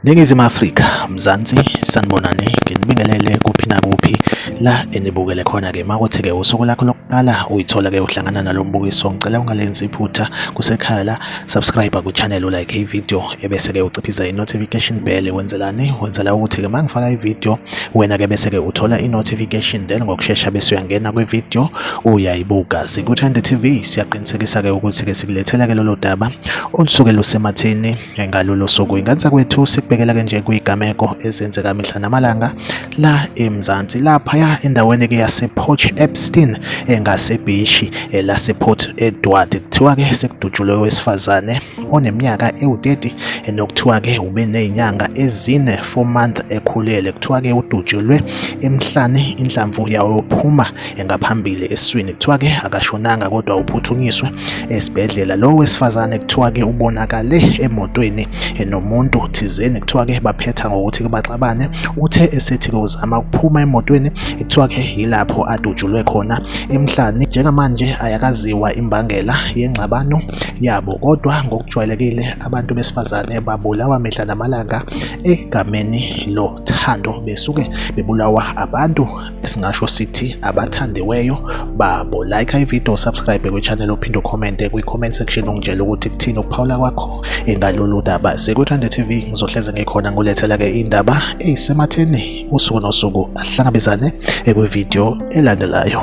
Ningizimu Afrika, Mzansi, sanibonani, nginibingelele kuphi nakuphi la enibukele khona-ke makuthi-ke usuku lakho lokuqala uyithola-ke uhlangana nalo mbukiso ngicela ungalenzi iphutha kusekhaya la subscribe kuchannel ulike ivideo ebese-ke uciphiza i-notification bell wenzelani wenzela ukuthi-ke uma ngifaka ivideo wena-ke bese-ke uthola i-notification then ngokushesha bese uyangena kwivideo uyayibuka sikuthande tv siyaqinisekisa-ke ukuthi-ke sikulethela-ke lolo daba olusuke lusematheni ngalolo suku ingansa kwethu sikubekela-ke nje kuyigameko ezenzeka mihla namalanga la eMzansi laphaya endaweni ke yasePort Epstein engasebhishi eh, lasePort Edward kuthiwa ke sekudutshulwe owesifazane oneminyaka ewu-30 eh, nokuthiwa ke ube nezinyanga ezine 4 month ekhulele kuthiwa ke udutshulwe emhlane inhlamvu yawo phuma engaphambili eswini kuthiwa ke akashonanga kodwa uphuthunyiswe esibhedlela lo wesifazane kuthiwa ke ubonakale emotweni enomuntu thizeni kuthiwa ke baphetha ngokuthi baxabane uthe esethi uzama ukuphuma emotweni kuthiwa ke yilapho adutshulwe khona emhlani njengamanje ayakaziwa imbangela yengxabano yabo kodwa ngokujwayelekile abantu besifazane babulawa mihla namalanga egameni lothando besuke bebulawa abantu esingasho sithi abathandiweyo babo like ivideo subscribe kwichannel uphinde ucommente kwi-comment section ungitshela ukuthi kuthini ukuphawula kwakho engalolu daba sekuthande tv ngizohleze ngikhona ngulethela-ke indaba eyisematheni usuku nosuku ahlangabezane ekwivideo elandelayo